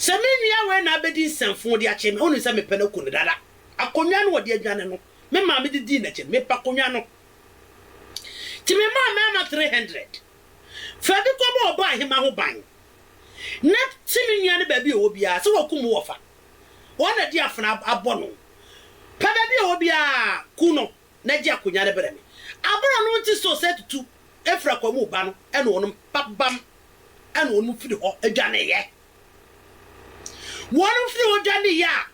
Sɛ me nua wei na abɛdi nsɛmfoo de akyere me, wonim sɛ mepɛ no aku no dada. Akonnwa no wɔde adwane no, me maame de dii n'akyi no, mepɛ akonnwa no. Nti memaa mmarima three hundred. Fa bi kɔbɔ ɔbɔahemaa ho ban, na si me nua no baabi a ɔwɔ biara sɛ wɔakum wo wɔ fa. Wɔn na di afena abɔ no. Pɛ baabi a ɔwɔ biara, ku no. na gye akonya no brɛ me. Aber a no ntse so sɛ etutu efir akwa mu reba no, nna hɔn mbabam na hɔn fir hɔ dwaneeɛ. Hɔn fir hɔ dwaneeɛ a,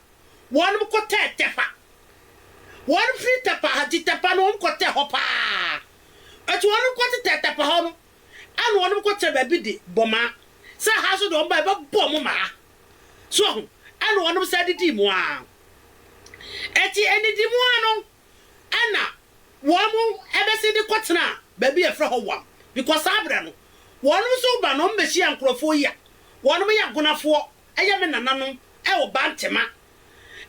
hɔn kɔtɛɛ Tɛpa. Hɔn fir Tɛpa ha, tse Tɛpa no, hɔn kɔtɛɛ hɔ paa. Ntsi hɔn kɔtsetɛɛ Tɛpa hɔ no, nna hɔn kɔtsenaa beebi de bɔ maa. Sɛ ha so de, hɔn bae bɛbɔɔ mo maa. So ho? Nna hɔn san didii mu ara. Ɛte anidi mu ara no na wɔbɛsan de kɔtena baabi a wɔfrɛ hɔ Wam, because saa berɛ no wɔnom nso reba na wɔbɛhyia nkurɔfoɔ yi a wɔnom yɛ Gonafoɔ, ɛyɛ me nananom wɔ Bantema.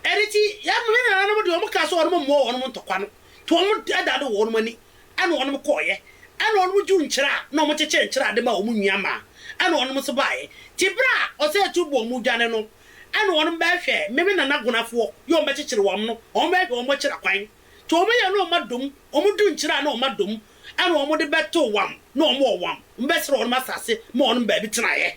Ɛno nti yɛn me nananom deɛ wɔkaa sɛ wɔnom mmoa wɔnom ntɔkwa no nti wɔnom dadadoo wɔnom ani ɛna wɔnom kɔeɛ ɛna wɔnom dwuu nkyerɛ a na wɔkyekyere nkyerɛ a de ma wɔn nnuammaa ɛna wɔnom nso baeɛ. Nti berɛ a Ɔsɛetuo bɔɔ wɔn dwane no, Ɛna wɔnom bɛɛhwɛ me me nana gonafoɔ yɛ wɔn bɛkyekyere wɔn no, wɔnom bɛɛhwɛ wɔn bɛkyera kwan, te wɔn yɛ ne wɔn adom, wɔn du nkyera ne wɔn adom, ɛna wɔnom de bɛto wɔn ne wɔn wɔ wɔn bɛsrɛ wɔnom asase ma wɔnom baabi tenaeɛ.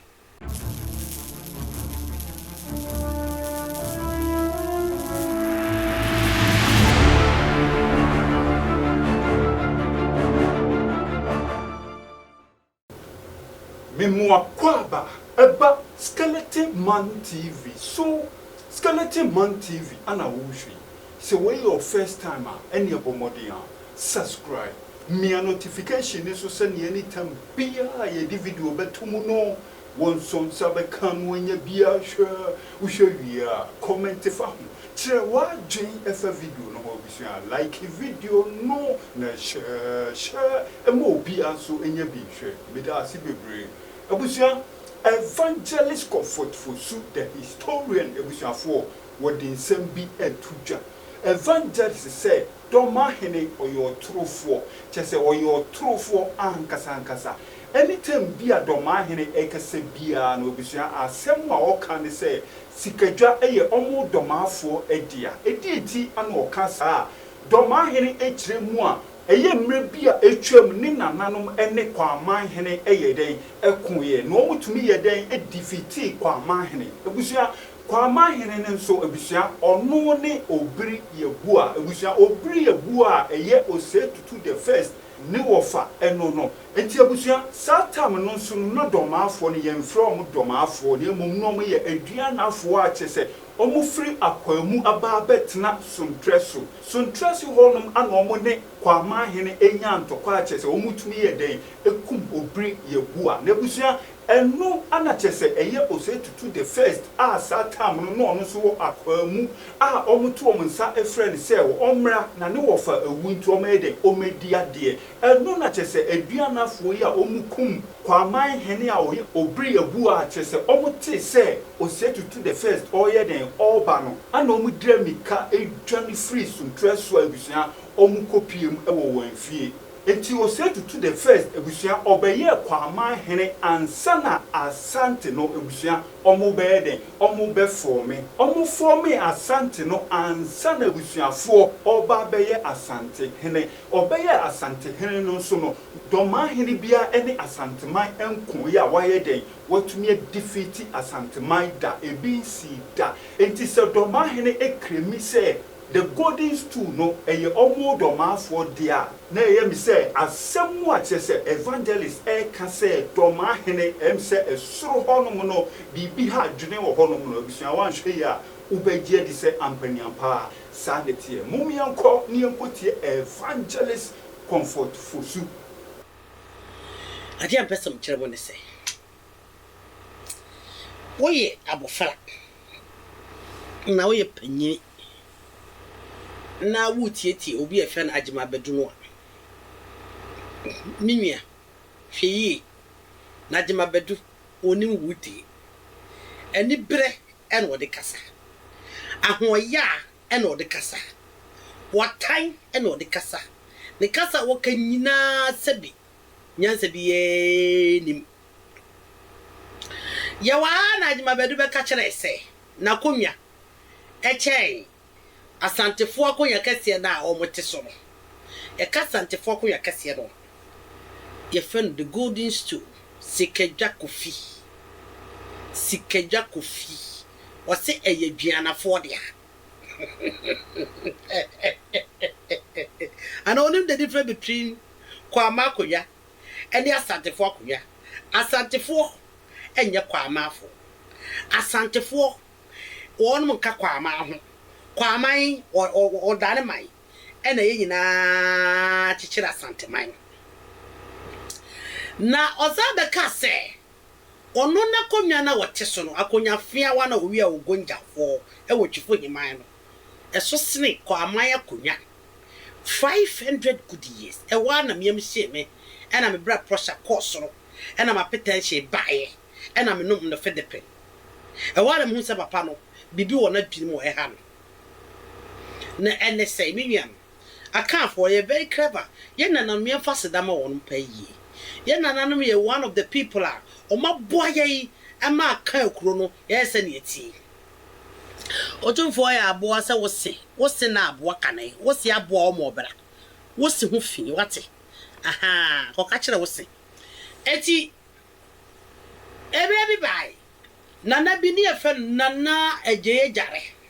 Memoa Kwaba ɛba skeleton man TV so skeleton man TV ana wohwɛ yi sɛ wei yɛ wo first time a ɛneɛ bɔ mmɔden a subscribe mia notification no so sɛneɛ anytime biaa a yɛde video bɛto mu no wonso nsa bɛka no anya biaa hwɛ wohwɛ wie a comment fa ho Kyerɛ w'adwene fa video no ho Abusua, like video no na hyɛɛ ma obiara nso nyɛ bi nhwɛ Meda ase bebree Abusua Evangelist Comfort Fosu the Historian Abusuafoɔ wɔde nsɛm bi reto dwa Evangelist sɛ Dɔmahene ɔyɛ ɔtorofoɔ Kyerɛ sɛ ɔyɛ ɔtorofoɔ ankasa ankasa Anytime bi a Dɔmahene rekasa biara no Abusua asɛm a ɔka ne sɛ Sikadwa yɛ wɔn dɔmaafoɔ dea. Ɛdeɛn nti na ɔka saa? Dɔmaahene kyerɛ mu a ɛyɛ mmerɛ bi a atwam ne nananom ne Kwaamaahene yɛ dɛn? Koeɛ. Na wɔn tumi yɛ dɛn? Difitii Kwaamaahene. Abusua, Kwaamaahene no nso abusua, ɔno ne Obiri Yabua. Abusua, Obiri Yabua a ɛyɛ Osei Tutu the first Ne wɔfa ɛno no. Enti abusua, saa tam no nso no, na dɔmaafoɔ no, yɛnfrɛ wɔn dɔmaafoɔ, na mmom na wɔyɛ aduanafoɔ a kyerɛ sɛ, wɔfiri akwaa mu aba abɛtena Sontrɛ so. Sontrɛ so hɔ nom a na wɔn ne Kwaman hene nya ntɔkwa a kyerɛ sɛ, wɔtumi yɛ dɛn kum obiri yɛ boa. Na abusua, Ɛno a na kyerɛ sɛ ɛyɛ Osei Tutu the First a saa term no na ɔno nso wɔ akwaa mu a wɔto wɔn nsa frɛ no sɛ ɔmmra na ne wɔfa awu nti ɔmmɛyɛ dɛn, ɔmmɛdi adeɛ. Ɛno na kyerɛ sɛ Aduanafoɔ yi a wɔkum Kwaaman hene a ɔyɛ Obriabu a kyerɛ sɛ wɔtee sɛ Osei Tutu the First ɔreyɛ dɛn, ɔreba no ɛna wɔdira mirika dwane firi Suntrɛ so a abusua wɔkɔpiem wɔ wɔn afie. Ntsi Osei Tutu the first ebusua ɔbɛyɛɛ Kwaman hene ansa na Asante no ebusua ɔmo bɛyɛ dɛn, ɔmo bɛ fɔɔme. Ɔmo fɔɔmee Asante no ansa na ebusuafoɔ ɔɔba abɛyɛ Asante hene. Ɔbɛyɛɛ Asante hene no nso no, Dɔmaa hene biaa ɛne Asanteman ɛnko yɛ a w'ayɛ dɛn, w'atumi adifiti Asanteman da, ebi nsii da. Ntsi sɛ Dɔmaa hene ekremi sɛ, The Golden Stool no yɛ ɔmodɔmaafoɔ deɛ a na ɛyɛ me sɛ asɛm mu a kyerɛ sɛ evangelist reka sɛ dɔmaa hene ɛyɛ me sɛ soro hɔ nom no biribi ha dwene wɔ hɔ nom no abusua woanhwɛ yie a wobɛgye adi sɛ ampaniampa ara saa na ɛteɛ mom yɛnkɔ na yɛnkɔ tie evangelist Comfort Fosu. Adeɛ a mpɛ sɛ mekyerɛ mo ne sɛ, Woyɛ abofra na woyɛ panyin na woretietie obi a wɔfrɛ no Agyemabadu no a, me nua, hwɛ yie, na Agyemabadu ɔnim wo die. Aniberɛ na ɔde kasa. Ahoɔyaa na ɔde kasa. Watan na ɔde kasa. Ne kasa a ɔka nyinaa sɛbe nyansa biara nnim. Yɛwɔ ha ara na Agyemabadu bɛka kyerɛɛ sɛ n'akonnwa kyɛn Asantefoɔ akonnwa kɛseɛ no a wɔte so no. Yɛka Asantefoɔ akonnwa kɛseɛ no a, yɛfrɛ no the golden stool, Sikadwa Kofi. Sikadwa Kofi. Wɔse ɛyɛ Aduanafoɔ dea. Ana onim the difference between Kwaamaa akonwa ɛne Asantefoɔ akonwa? Asantefoɔ ɛnyɛ Kwaamaafoɔ. Asantefoɔ wɔnom nka Kwaamaa ho. Kwaaman ɔdane man ɛna yɛn nyinaa kyekyere Asanteman. Na ɔsan bɛkaa sɛ. Ɔno n'akonnwa no a ɔte so no, akonnwa feawa na owia a ogonja hɔ wɔ Twifo Heman no, ɛso sene kɔ aman akonnwa five hundred good years. Ɛhɔ ara na me yam hyee me, ɛna me bra prɔsa kɔɔ soro, ɛna m'apetɛnhye baeɛ, ɛna me nom nnofe depen. Ɛhɔ ara na mehunu sɛ papa no, biribi wɔ n'adwene mu a ɛha no. Na ɛne sɛe, me nuanom. Akanfoɔ yɛ very clever, yɛn nananom yɛn fa aseda ma wɔnom paa yie. Yɛn nananom yɛ one of the people a wɔn aboa yɛn ma Akan akuro no yɛayɛ sɛdeɛ ɛteɛ. Otumfoɔ yɛ aboa sɛ wo se, wo se na aboa kane, wo se aboa wɔn ma wɔbra wo se ho fi, wate? Ahaa, kɔ ka kyerɛ wo se. Ɛti, ɛberɛ bi baae, Nana bi ne yɛfrɛ no Nana Agyei Agyare,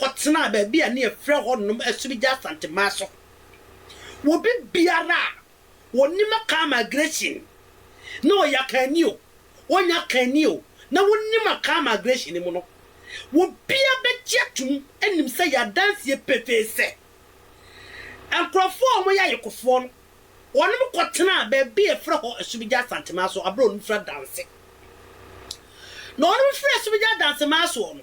kɔtenaa baabi a na yɛfrɛ hɔnom Asubigya Asantemaa so. Obi biara a ɔnim Akaa Migration, na ɔyɛ Akaani o, ɔnyɛ Akaani o, na wonim Akaa Migration no mu no, obiara bɛgye atom anim sɛ yɛ adanseɛ pefee sɛ, nkurɔfoɔ a wɔyɛ Ayekofoɔ no, wɔnom kɔtenaa baabi a yɛfrɛ hɔ Asubigya Asantemaa so berɛ a wɔnom firi adanse. Na wɔnom firi Asubigya Adansemaa soɔ no,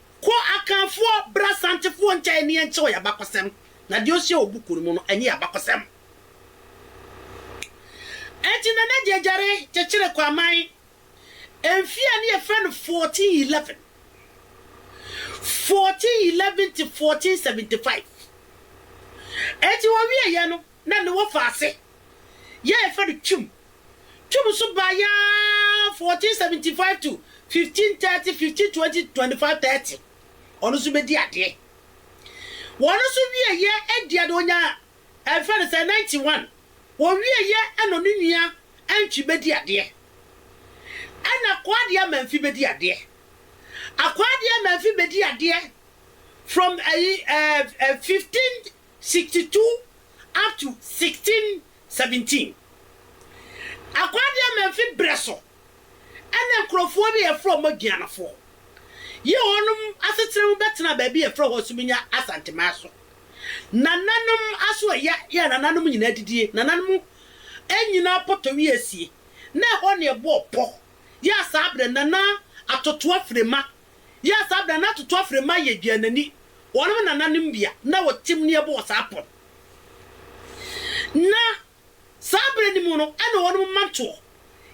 Kɔ Akanfoɔ, bra Asantefoɔ nkyɛn na yɛnkyɛ wo y'abakɔsɛm, na deɛ ɔhyɛ wo buku no mu no, ɛnyɛ y'abakɔsɛm. Enti Nana Gyegyare kyekyere Kwaman mfeɛ a ne yɛfrɛ no 1411, 1411 to 1475. Enti ɔwieɛ yɛ no, na ne wɔfa ase, yɛ yɛfrɛ no Twum Twam so baeɛ ara 1475 to 1530, 1520 to 2530, ɔno nso bɛdi adeɛ. Wɔn nso wieɛ aduane no ɔnyaa ɛfrɛ no sɛ 91, wɔwieɛ ɛna ɔno nua Antwi bɛdi adeɛ. Ɛna Akwaa Adeɛ Amanfi bɛdi adeɛ. Akwaa Adeɛ Amanfi bɛdi adeɛ from ɛyi ɛɛ 15 sixty two up to sixteen seventeen Akwadeɛmɛmfe berɛ so na nkurɔfoɔ bi a yɛfrɛ wɔn Aduanafoɔ yi wɔn asetena mu bɛtenaa baabi a yɛfrɛ hɔ Suminya Asanteman so. Nananom aso ɛya yɛ nananom nyinaa adidie, nananom nyinaa pɔtɔwi asie, na ɛhɔ na yɛbɔɔ pɔ yɛ saa berɛ Nana Atotoa Frema Yɛɛ saa bere a na Tutu afrɛ mma yɛ Gyanani, wɔnom nananom bea, na wɔ Timniebo wɔ saa pon. Na saa bere no mu no ɛna wɔnom mmantoɔ.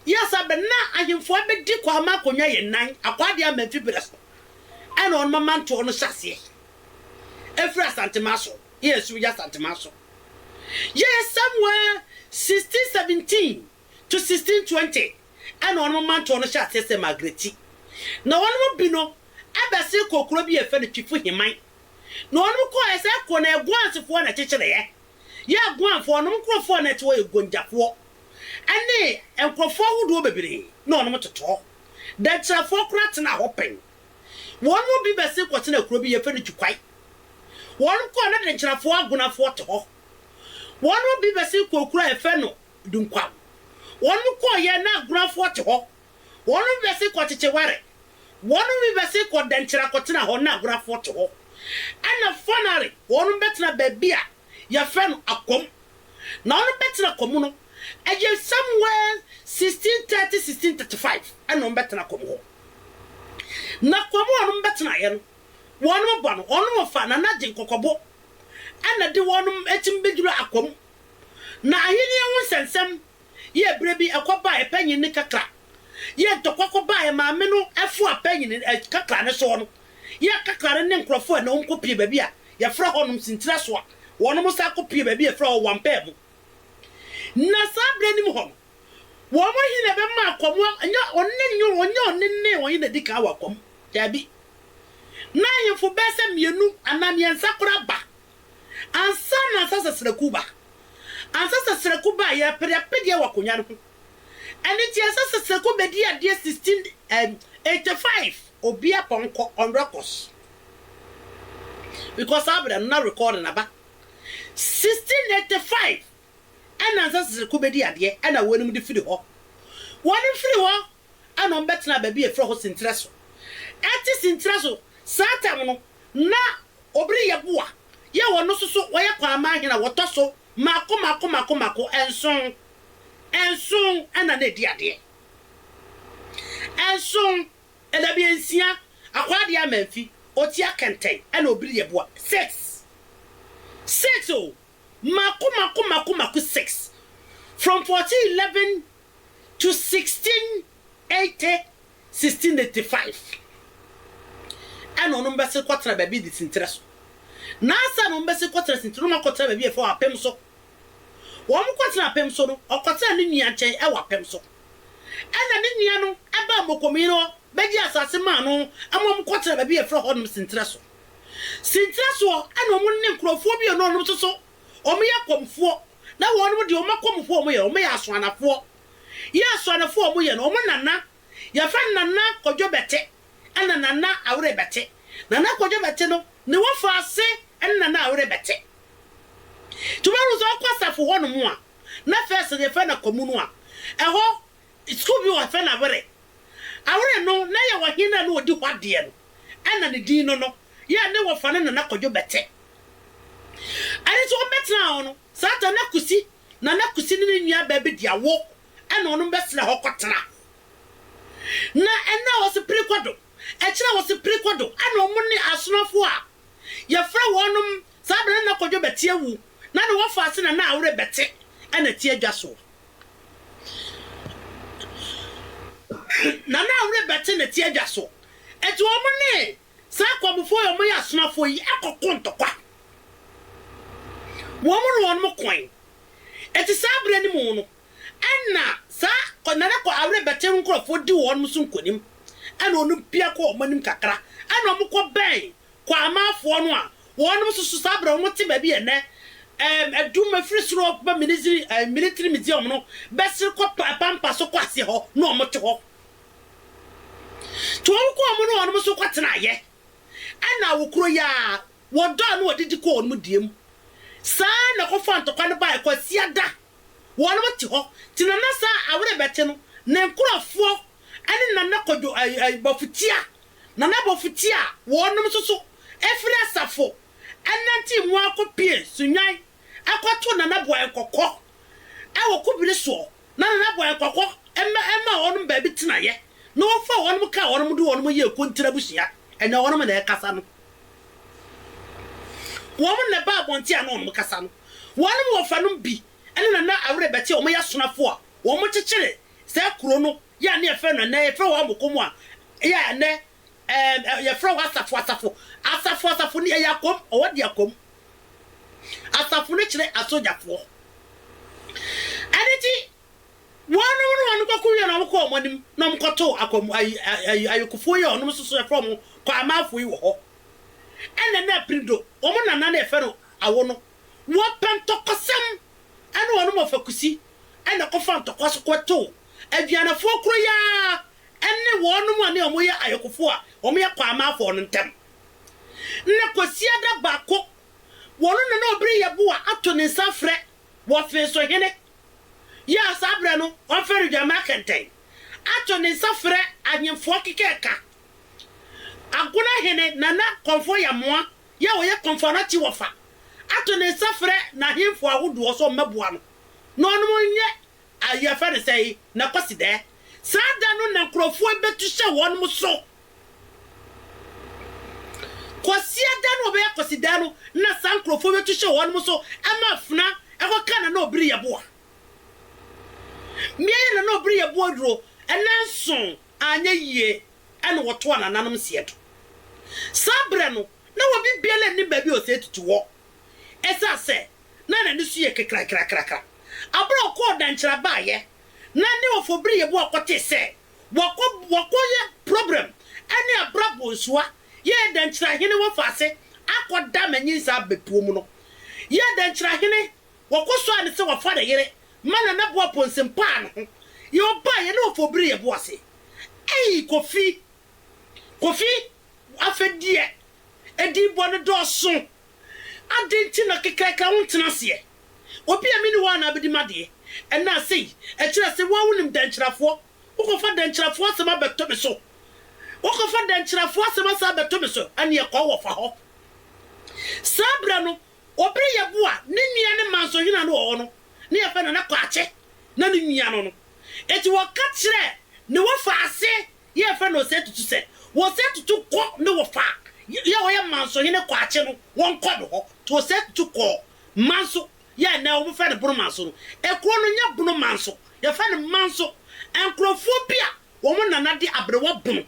Yɛɛ saa bere na ahemfo abɛdi kwa ama akonwa yɛ nan, akwaa deɛ ama mfi bere so ɛna wɔnom amantoɔ no hyɛ aseɛ. Ɛfiri Asantema so, yɛɛ so, yɛ Asantema so. Yɛɛ Samuel 1617. to sixteen twenty ɛna ɔnom mantoɔ no hyɛ aseɛ sɛ Magreti. Na ɔnom bi no ɛbɛsee kɔɔ kuro bi a yɛfrɛ no Twifu Himan. Na ɔnom kɔɔɛ sɛ ɛkɔɔ na Aguansefoɔ na ɛkyekyereɛ. Yɛ Aguanfoɔ ɔnom nkorɔfoɔ a na ɛte hɔ yɛ Gonjafoɔ ɛne nkorɔfoɔ ahodoɔ bebree na ɔnom totɔɔ. Dankyirafoɔ koraa tenaa hɔ pɛn. Wɔnom bi bɛsee kɔtenaa kuro bi yɛfrɛ no Jukwai. Wɔnom kɔɔ na Dankyirafoɔ Agunafoɔ te hɔ. Wɔnom bi bɛsee kɔɔ kuro a yɛfrɛ no dunkwa. Wɔnom kɔɔ yɛ na aguranfoɔ te hɔ. Wɔnom bɛ se kɔ kyekye ware. Wɔnom bi bɛ se kɔ dɛnkyera kɔ tena hɔ na aguranfoɔ te hɔ. Ɛna fanare wɔnom bɛ tena baabi a yɛfrɛ no akwam. Na wɔnom bɛ tena kwam no ɛyɛ somewhere 1630 1635 ɛna wɔnom bɛ tena kwam hɔ. Na kwam a wɔnom bɛ tena yɛ no wɔnom bɔ no wɔnom fa Nana Gye Nkɔkɔbo ɛna de wɔnom ɛtim bɛ duru akwam. Na Ahenni ho nsɛnsɛm yɛɛ berɛ bi ɛkɔ baaɛ panyin no kakra, yɛɛ ntɔkwa kɔ baaɛ maame no ɛfoa panyin ɛ kakra no soɔ no, yɛɛ kakra no ne nkorɔfoɔ ɛ na wɔn kɔ pie baabi a yɛfrɛ hɔ nom Sintirasoa, wɔnom nsa kɔ pie baabi a yɛfrɛ hɔ Wampaamu. Na saa berɛ no mu hɔ no, wɔn ɔhene na ɛbɛma akwa mu a, nyɛ ɔno ne nyɛ ɔnyɛ ɔne ne ɔhene na ɛdi kan wɔ akwa mu, daabi, na ahemfo bɛɛsɛ mmienu anaa mmiɛnsa koraa ba ansa na Ansah Sasraku ba. Ansah Sasraku ba a, yɛrepede apedeɛ wɔ akonnwa no ho. Ɛno nti Ansah Sasraku bɛdii adeɛ 1685, obiara pɔnkɔ, on records, because saa berɛ no na record no aba. 1685 ɛna Ansah Sasraku bɛdii adeɛ ɛna wɔnom de firi hɔ. Wɔnom firi hɔ ɛnna wɔbɛtenaa baabi a wɔfrɛ hɔ Senterɛ so. Ɛte Senterɛ so saa tam no, na Obiri Yeboah yɛ wɔn nso so wɔyɛ Kwaaman hene a wɔtɔ so mmaako mmaako mmaako mmaako nson. Nson na na ɛdi adeɛ. Nson, Ɛdabea nsia, Akwaadea Amanfi, Otia Kɛntɛn ɛnna Obiri Yeboah, six. Six o! Mmaako mmaako mmaako mmaako six. From fourteen eleven to 1680, 1685, ɛna ɔnom bɛsen kɔtena baabi de sinterɛ so. Nansa na ɔmo bɛsen kɔtena sinterɛ no, ɔmo akɔtena baabi a yɛfrɛ wɔ Apem so. Ɔmo kɔtena Apem so no, ɔkɔtena ne nua nkyɛn ɛwɔ Apem so. Ɛna ne nua no ɛbaa Mokomin hɔ bɛgye asase maa no ɛma ɔmo kɔtena baabi a yɛfrɛ hɔnom Sinterɛ so. Sinterɛ soɔ ɛna ɔmo ne nkorɔfoɔ bi a ɔne ɔnom soso Wɔyɛ akɔmfoɔ, na wɔnom deɛ wɔn akɔmfoɔ a wɔyɛ no, wɔyɛ asoanafoɔ. Yɛ asoanafoɔ a wɔyɛ no, wɔn nana, yɛfrɛ no Nana Kwadwo Bɛte ɛna Nana Awere Bɛte. Nana Kwadwo Bɛte no, ne wɔfaase ɛne Nana Awere Bɛte. Nti wobɛhunu sɛ wokɔ asafo hɔnom a, na first no yɛfrɛ no Akwamu no a, ɛhɔ Skuul bi wɔ ha fɛ no Awere. Awere no na yɛwɔ ɔhen a na ɔdi hɔ adeɛ no ɛna ne din no no yɛ ne wɔfa no Nana Kwadwo Bɛte. Ɛne nso wɔn bɛtenaa hɔ no saa ta na Kusi Nana Kusi ne ne nua baa bi de awo ɛna wɔnom bɛsena hɔ kɔ tena. Na ɛna ɔse piri kɔdo ɛkyerɛ ɔse piri kɔdo ɛna wɔn ne asonafoɔ a yɛfrɛ wɔnom saa berɛ no Nana Kwadwo Bɛte awu na ne wɔfa ase Nana Awere Bɛte ɛna ɛte adwa soɔ. Na na ɔrebɛte ne tiadwa so. Enti wɔn ne saa akɔmfoɔ a wɔyɛ asomafoɔ yi kɔko ntɔkwa. Wɔn ne wɔn koe. Enti saa berɛ no mu no, ɛna saa Nana Kɔ Awerebɛte nkorɔfoɔ di wɔn so nkonim. Ɛna wɔpia kɔ wɔn anim kakra. Ɛna wɔkɔbɛn Kwaamaafoɔ no a wɔnom nso so saa berɛ a wɔte baabi a ɛnnɛ ɛɛm adum ɛfiri soro ba Miniziri ɛɛ Militiri Museum no bɛsere kɔ pa Pampa so kɔ aseɛ hɔ na wɔn te hɔ nti wɔn kɔ wɔn ne wɔnom nso kɔ tenaeɛ ɛna wɔ kuro yi ara wɔdɔɔ na wɔdidi kɔɔ wɔnom deɛ mu saa ara na kɔfaa ntɔkwa no baeɛ Kwasiada wɔnom te hɔ nti na na saa a awerebɛkye no ne nkorɔfoɔ ɛne Nana Kwadwo ɛɛ ɛɛ Bɔfotia, Nana Bɔfotia a wɔnom nso so firi asafo ɛnantee mu ara kɔpue Sunnwan ɛkɔtoo Nana Boae Kɔkɔ ɛwɔ Kobire soɔ na Nana Boae Kɔkɔ ɛma ɛmaa wɔnom baabi tenaeɛ na ɔfaa wɔnom kaa wɔnom de wɔnom yɛɛ Kontire abusua, ɛnyɛ wɔnom na ɛkasa no. Wɔnom na ɛbaa abɔnten a na wɔnom kasa no. Wɔnom wɔfanom bi ɛne Nana Awere Bɛte a wɔyɛ asonafoɔ a wɔkyekyere Saa kuro no yɛ a ne yɛfrɛ no ɛnnɛ yɛfrɛ wɔ Amoko mu a yɛ a ɛnnɛ ɛɛm ɛ yɛfrɛ wɔ Asafo Asafo Asafo Asafo ni ɛyɛ Akwam ɔwɔ de Akwam Asafo no kyerɛ Asogyafoɔ ɛno nti wɔnom no wɔnom kɔko wie no wɔn kɔ wɔn anim na wɔn kɔ too Akwam ayi ayi Ayokofoɔ yi a wɔnom nso so yɛfrɛ wɔn Kwaamafoɔ yi wɔ hɔ ɛna na Aprido wɔn nana no yɛfrɛ no Awo no wɔ Pɛntɔkɔsɛm ɛna ɔnom ɔfakusi ɛna kɔfa ntɔkwa so kɔtow Adwianafoɔ koro yi ara ɛne wɔnom a ne ɔmo yɛ ayɔkofoɔ a ɔmo yɛ Kwaamafoɔ no ntɛm. Na Kwasiada Bako wɔno na na ɔbere Yeboah ato ne nsa afrɛ Wɔfeeso hene yi a saa berɛ no ɔmfɛre Dwammaa Kɛntɛn ato ne nsa frɛ Ahenfoɔ keka ɛka Agona hene Nana Kɔmfoɔ Yamoa yɛ a ɔyɛ Kɔmfoanakye wɔfa ato ne nsa frɛ n'ahemfo ahodoɔ sɛ ɔmmɛboa no na ɔnom nyɛ ayi yɛfrɛ no sɛn na Kwasidɛɛ. Saa da no na nkorɔfoɔ bɛtu hyɛ wɔnom so. Kwasia da no a ɔbɛyɛ Kwasidɛɛ no na saa nkorɔfoɔ bɛtu hyɛ wɔnom so ma afena kɔ ka Nana Obiri Yɛboa. Mmea yɛ Nana Obiri Yɛboa aduro nanso anyɛ yie. na wɔtoa nananom seɛ do. Saa berɛ no, na obi biara nnim baabi a ɔsɛe tutu wɔ, ɛsiane sɛ na n'ani so yɛ kekrakrakrakra. Bere a ɔkɔɔ Dankyira baeɛ na ne wɔfo Biri Yeboah kɔtee sɛ wakɔ wakɔyɛ program ne Abra Bonsua yɛɛ Dankyira hene wɔfa ase akɔda ma nyinsah bɛpuom no, yɛɛ Dankyira hene. Wɔkɔ so ara ne sɛ wɔfa ne yere ma Nana Boa Ponsen paa no ho. Yɛ ɔbaa yɛ ne ɔfa obiri yɛ bo ase. Eii Kofi! Kofi! Afɛ deɛ edin bɔ no dɔɔso. Aden nti na kɛkɛɛkɛ wo ntena aseɛ? Obi a me ni hɔ a na abɛdi m'adeɛ ɛnaa sei? Ɛkyerɛ se wo ara wo nim Dankyirafoɔ. Wo kɔ fa Dankyirafoɔ asɛm abɛto me so. Wo kɔ fa Dankyirafoɔ asɛm asan abɛto me so ɛneɛ kɔ wɔ fa hɔ. Saa berɛ no Wɔ bere yɛ bo a ne nua ne mansohene no wɔ hɔ no, ne yɛfrɛ no Nana Kwakye na ne nua no no. Enti wɔka kyerɛɛ ne wɔfa ase yɛ yɛfrɛ no Osei Tutu sɛ wɔ Osei Tutu kɔ ne wɔfa yɛ a ɔyɛ Mansohene Kwakye no wɔn kɔ no hɔ. To Osei Tutu kɔɔ Manso yɛ a nnɛ wɔfrɛ no Bono Manso no. Ekuro no nyɛ Bono Manso, yɛfrɛ no Manso. Nkurofoɔ bi a wɔn Nana de aberewa Bono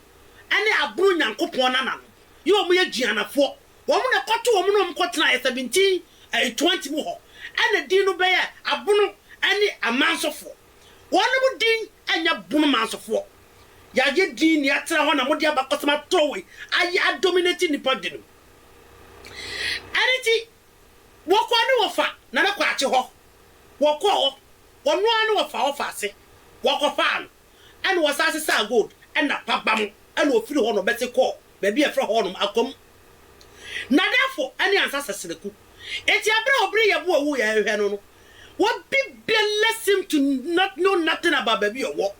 ne Abono Nyankopɔn Nana no yɛ wɔn yɛ Gyianafoɔ Wɔn na ɛkɔto wɔn na wɔkɔtena yɛ seventeen ɛɛ twenty mu hɔ ɛna din no bɛyɛ Abono ɛne Amansofoɔ. Wɔnom din ɛnyɛ Bono Mansofoɔ. Yayɛ din na yatena hɔ na mode abakɔsɛm atɔ wei ayɛ a dominate nnipa binom. Ɛno nti wɔkɔ ne wɔfa Nana Kwakye hɔ, wɔkɔɔ hɔ wɔno ara ne wɔfa hɔ fa ase wɔkɔfaa no. Ɛna ɔsan sesaa gold na pabam na ɔfiri hɔ nom bɛse kɔɔ baabi a ɛfrɛ hɔ nom Akwam. Nadafo ne Ansa Sasanaku. Enti aberɛ a ɔbere Yɛbo a wuiɛ a ɛhwɛ no no, obi biala seem to not know nothing about baabi a ɔwɔ.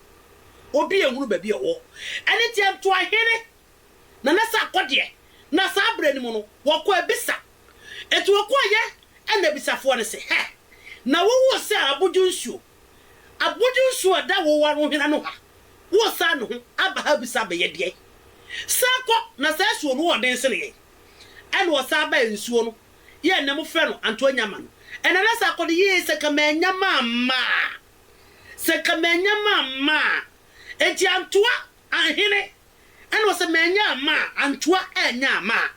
Obi anhunu baabi a ɔwɔ. Ɛno nti Ntoahene Nana Sarkodie na saa aberɛ no mu no wɔkɔ abisa. Enti wɔkɔɔeɛ na abisafoɔ no se, Hɛ! Na wowoo se a abodwo nsuo? Abɔdze nsu a ɔda wo warohwena no ha, woresan no ho aba ha bisa bɛyɛ deɛn? San kɔ na saa asuo no wɔ ɔden sene yɛn. Ɛna ɔsan baɛ nsuo no yɛ nnɛ mo frɛ no anto annya ma no. Ɛna na sɛ akɔ no yie sɛ nka mannya mamma a, sɛ nka mannya mamma a, enti antoa anhene ɛna ɔsɛ mannya amma a, antoa annya amma a.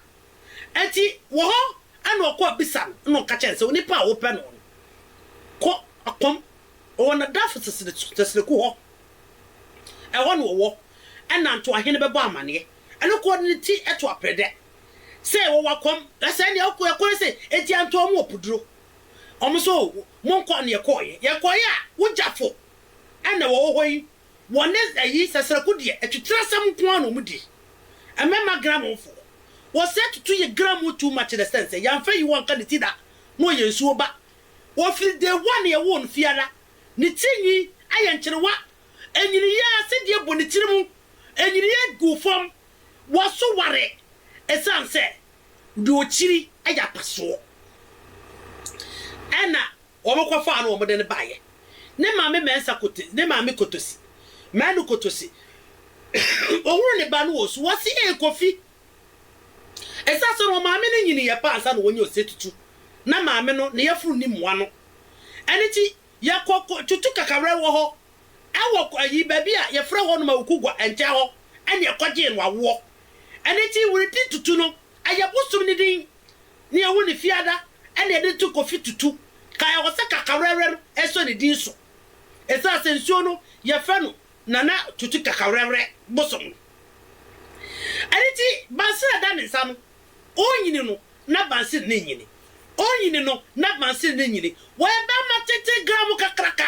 Enti wɔ hɔ na ɔkɔ abisa no, na ɔka kyerɛ no sɛ, Onipa a wopɛ no no, kɔ ɔkɔm, ɔwɔ n'adamfo Tesereku hɔ, ɛhɔ na ɔwɔ, ɛnna ntoahene bɛbɔ amanneɛ. Ɛno kɔ de ne ti to apere dɛ sɛ wɔwɔ akɔm, na sɛ ɛnneɛ ɔkɔ ɔkɔ no sɛ, Enti antɔ wɔn ɔpoduro? Wɔn nso, Monkɔ, na yɛkɔeɛ. Yɛkɔeɛ a, wo gyafo na wɔwɔ hɔ yi, Wɔne ayi sɛsrɛko deɛ atwitire asɛm nko ara na wɔn di. Mmɛma grammon foɔ. Wɔsɛ tutu yɛ grammon too much in the sense sɛ yɛnfa ayi wɔnka ne ti da na ɔyɛ nsuo ba. Ɔfiri day one a yɛwoo no fie ara ne tiri nwi ayɛ nkyerewa. Ɛnyiniiɛ ara sɛdeɛ ɛbɔ ne tiri mu ɛnyiniiɛ guu fam. Wɔso ware ɛsiane sɛ deɛ ɔkyiri yɛ apasoɔ ɛna Wɔkɔfaa no wɔde no baeɛ. Ne maame mɛnsa kote ne maame kotosi mɛnu kotosi ɔhunu ne ba no wɔ su ɔse ee Kofi ɛsa sɛ no ɔmaame no nyiniiɛ paa ansa na wɔnya ɔsɛ tutu na maame no ne yafunu nni mmoa no ɛno nti yɛkɔ tutu kakawrɛ wɔ hɔ ɛwɔ ayi baabi a yɛfrɛ hɔ nom Awukugwa nkyɛn hɔ ɛne ɛkɔgyee no awoɔ ɛno nti were di tutu no ɛyɛ bosom no din ne ehu ne fiada na yɛde to kofi tutu ka ɛwɔ sɛ kakawrɛwrɛm sɔ ne din so esiane sɛ nsuo no yɛfrɛ no Nana Tutu Kakawrɛwrɛ bosom no ɛno nti Bansere a ɛda ne nsa no ɔnyini no na Bansere no nyini ɔnyini no na Bansere no nyini wɔyɛ bɛɛma tenten gramo kakraka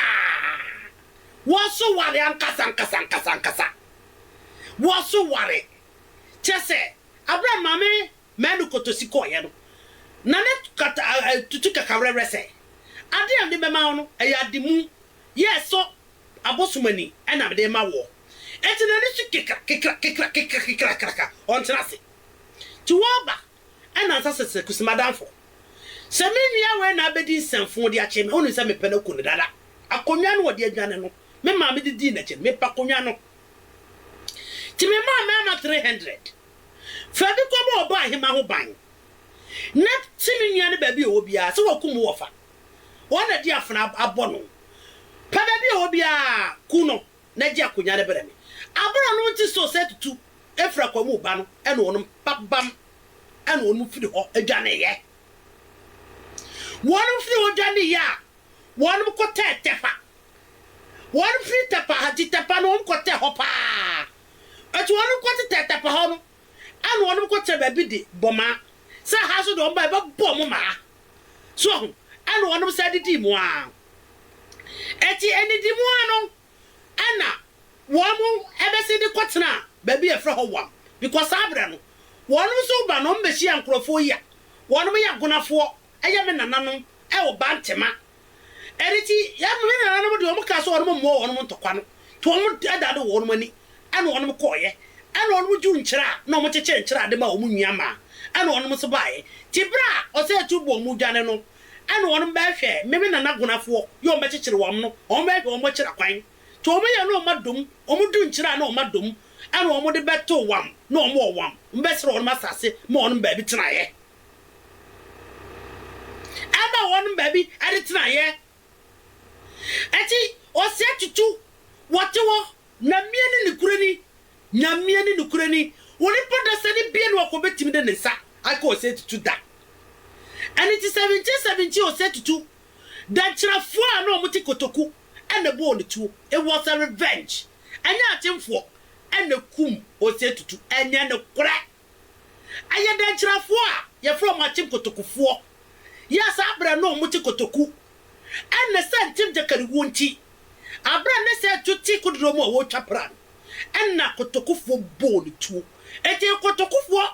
wɔso ware ankasa ankasa ankasa ankasa wɔso ware kyerɛ sɛ abere a maame Manu kotosi kɔeɛ no, na ne kata a tutu kakawerɛwerɛ sɛ. Adeɛ a mede bɛma wo no, ɛyɛ ade mu yɛ ɛsɔ abosom ani na mede rema woɔ. Enti n'ani so kekra, kekra, kekra, kekra, kekra, kraka, ɔntena ase. Nti wɔreba nnansa sɛsɛ kusi m'adamfo. Sɛ me nua wei na abɛdi nsɛmfoo de akyere me, wonim sɛ mepɛ no aku no dada. Akonnwa no ɔde adwane no, me maame de dii n'akyi no, mepɛ akonnwa no. Nti memaa mmarima three hundred. Fa bi kɔbɔ ɔbɔahema ho ban, na kyi ne nua no baabi a ɔwɔ biara. Sɛ wɔakum wo wɔ fa, wɔn na di afena abɔ no. Pɛ baabi a ɔwɔ biara, ku no, na gye akonya no brɛ me. Abɔrɔ no nte so sɛ tutu firi akwaa mu ba no, ɛnna wɔnom babam, ɛnna wɔnom firi hɔ dwaneeɛ. Wɔnom firi hɔ dwaneeɛ a, wɔnom kɔtɛɛ Tɛpa. Wɔnom firi Tɛpa ha, gye Tɛpa no, wɔnom kɔtɛɛ hɔ paa. Ntsi hɔn nkɔ tsetsɛ tapa hɔ no, ana hɔn bɔkɔ tsena beebi de bɔ ma, sɛ ha so de wɔn ba a yɛbɛbɔ mo ma ha. So woahu? Ana hɔn san didii mu ara. Ntsi enndzi mu ara no, ana wɔbɛsen de kɔ tsena beebi a yɛfrɛ hɔ Wam, because saa berɛ no, wɔnom so ba na wɔbɛhyia nkorɔfoɔ yi a wɔnom yɛ Agonafoɔ, yɛ me nananom wɔ Bantema Ɛno nti, yɛn me nananom deɛ wɔn kaa sɛ wɔn mmoa wɔn ntɔkwa no, nti wɔn dada do wɔn ani, ɛna wɔn kɔɔeɛ, ɛna wɔn dwo nkyerɛ a na wɔn kyekyere nkyerɛ a de ma wɔn nua maa, ɛna wɔn nso baaeɛ. Nti berɛ a ɔsɛɛtu bɔɔ wɔn dwane no, ɛna wɔn bɛɛ hwɛɛ me me nana gonafoɔ yɛ wɔn bɛkyekyere wɔn no, wɔn bɛɛ hwɛ wɔn akyira kwan, nti wɔn yɛ na wɔn adom, wɔn do nkyerɛ a na wɔn adom, ɛna wɔn de bɛtoo wɔn na wɔn wɔ wɔn, me bɛsrɛ wɔn asase ma wɔn baabi tenaeɛ. Ama wɔnom baabi de tenaeɛ. Enti ɔseɛ tutu wɔte hɔ, Nyameɛ ne nokorɛ ni, Nyameɛ ne nokorɛ ni, onipa da sɛ ne bie ne ɔkɔ bɛtumi de ne nsa aka ɔseɛ tutu da. Ɛno nti 1717 ɔseɛ tutu dankyirafoɔ a na wɔte kotoku na ɛbɔɔ no tuo, it was a revenge, ɛnyɛ atemfoɔ na ɛkum ɔseɛ tutu, ɛnyɛ nokorɛ. Ɛyɛ dɛnkyerɛfoɔ a yɛfrɛ wɔn Akyem Kotokufoɔ. Yɛ saa berɛ no wɔn te Kotoku. Ɛnne sɛ Nkyem Gyakariwuo nti, aberɛ ne sɛ Adwo te kodoɔ mu a wɔretwa pra no, ɛnna Kotokufoɔ bɔɔ no tuo. Enti Kotokufoɔ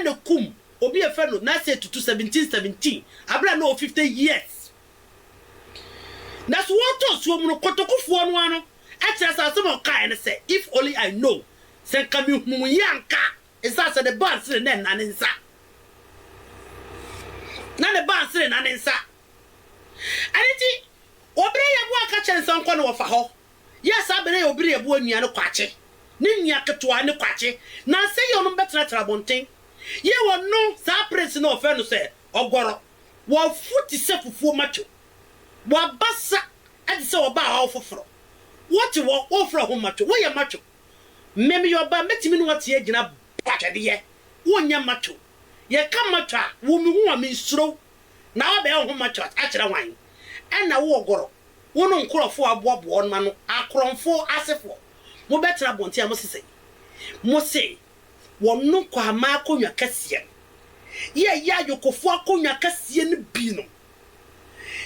na kum obi a yɛfrɛ no Nasey Tutu 1717, aberɛ a na ɔwɔ 50 years. Nanso wɔretɔ nsuo mu no, Kotokufoɔ no ara no kyerɛ sɛ asɛm a ɔkaeɛ ne sɛ, If only I know Sɛ nka mehunu wo yie anka a. Ɛsiane sɛ ne bansere na ɛna ne nsa. Na ne bansere na ne nsa. Ɛno nti, wɔbrɛ yɛboɔ a ka kyerɛ no sɛ ɔnkɔ na wɔfa hɔ. Yɛ saa berɛ yɛ wɔbrɛ yɛboɔ nua no kwakye, ne nua ketewa ne kwakye. Nansa yɛ wɔnom bɛtenatena abɔnten. Yɛ wɔno, saa prince no wɔfrɛ no sɛ Ɔgɔrɔ. Wafu te sɛ fufuo matwo. Wabasa te sɛ wɔbaa ɔhaw foforɔ. Wɔte hɔ, wɔfrɛ wɔho matwo. Wɔyɛ matwo. Me meyɛ ɔbaa mɛtumi ne w'ate agyina but atwɛdeɛ wonyɛ macho yɛka macho a wo me hu a me nsuro wo na wabɛyɛ wo ho macho akyerɛ hwan ɛna wo ɔgɔrɔ wo no nkorɔfoɔ a aboaboa wɔnom ano akorɔnfoɔ asefoɔ mo bɛtena abɔnten a mo se sɛn mo se wɔnom kwaamaa akonnwa kɛseɛ no yɛ yɛ ayokofoɔ akonnwa kɛseɛ no binom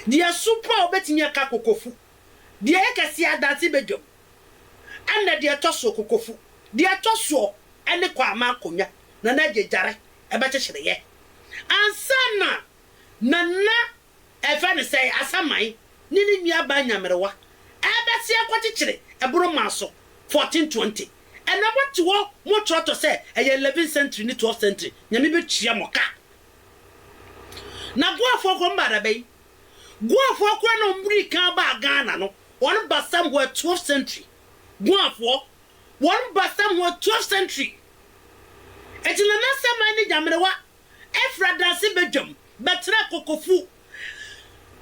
deɛ ɛso paa wobɛtumi aka kokofu. Deɛ ɛyɛ kɛseɛ adanse badwam ɛna deɛ ɛtɔ soɔ kokofu deɛ ɛtɔ soɔ ɛne kwaamaa akonwa nana agye gyare ɛbɛkyekyereɛ ansa na nana ɛfɛ no sɛn asaman ne ne nua baa nyamerewa ɛbɛse akɔkyekyere ɛbono maa so fourteen twenty ɛna mo te hɔ mo trɔtɔ sɛ ɛyɛ eleven century ne twelve century nyame bɛtua mo ka na boafoɔ kɔmbaada bɛyi Guafoɔ koraa na wɔn dii kan baa Ghana no, wɔn ba somewhere twelfth century. Guafoɔ, wɔn ba somewhere twelfth century. Enti Nana Saman ne Nyamrewa firi Adanse badwam bɛtenaa Kokofu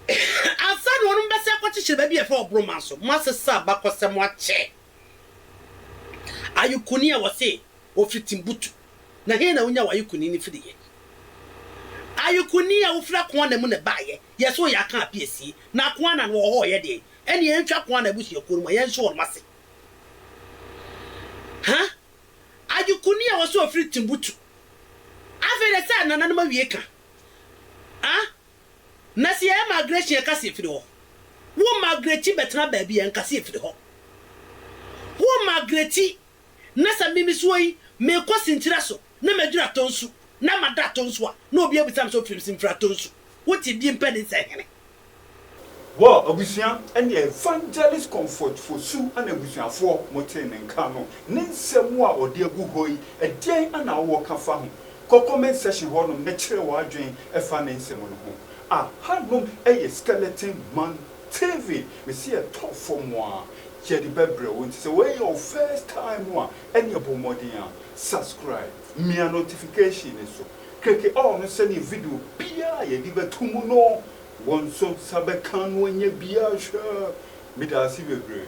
ansa na wɔn bɛsan akɔkyekyere baabi a yɛfrɛ hɔ Boroma so. Moasesa abakɔsɛm akyɛ Ayukuni a wɔse Ofi Timbutu, na he na wonya w'ayukuni no firiiɛ? Ayukuni a wofiri Akoana mu na ɛbaeɛ, yɛ se ɔyɛ Akan apiesie, na Akoana no wɔwɔ hɔ reyɛ deɛn? Ɛnneɛ yɛntwa Akoana abusuakuo no mu a yɛnhye wɔnom ase. Ha? Ayukuni a wɔse ɔfiri Timbutu. Afei deɛ sɛ nananom awie ka. Ha? Na se yɛyɛ migration yɛka se yɛfiri hɔ. Wo migrati bɛtena baabi a nka se yɛfiri hɔ. Wo migrati na sɛ me mesoa yi, mekɔ sinkyire aso na madwiri atɔ nsu na mada atɔ nsu a, na obi abisa me sɛ ofiri bse mfiri atɔ nsu? Wote die mpɛ ne nsɛ hene. Wɔ abusua ɛne Evangelist Comfort Fosu ɛne abusuafoɔ motee ne nka no, ne nsɛm a ɔde agu hɔ yi, ɛdeɛn na wowɔ ka fa ho? Kɔ comment section hɔnom na kyerɛ w'adwene fa ne nsɛm no ho. Ahanom yɛ Skeleton Man. TV mese yɛ tɔ fam a yɛde bɛbrɛ wo nti sɛ wei yɛ wo first time a ɛneɛ bɔ mmɔden a subscribe mia notification no so kreke all no sɛneɛ video biaa a yɛde bɛto mu no wo nso nsa bɛka no anya bi ahwɛ medaase bebree.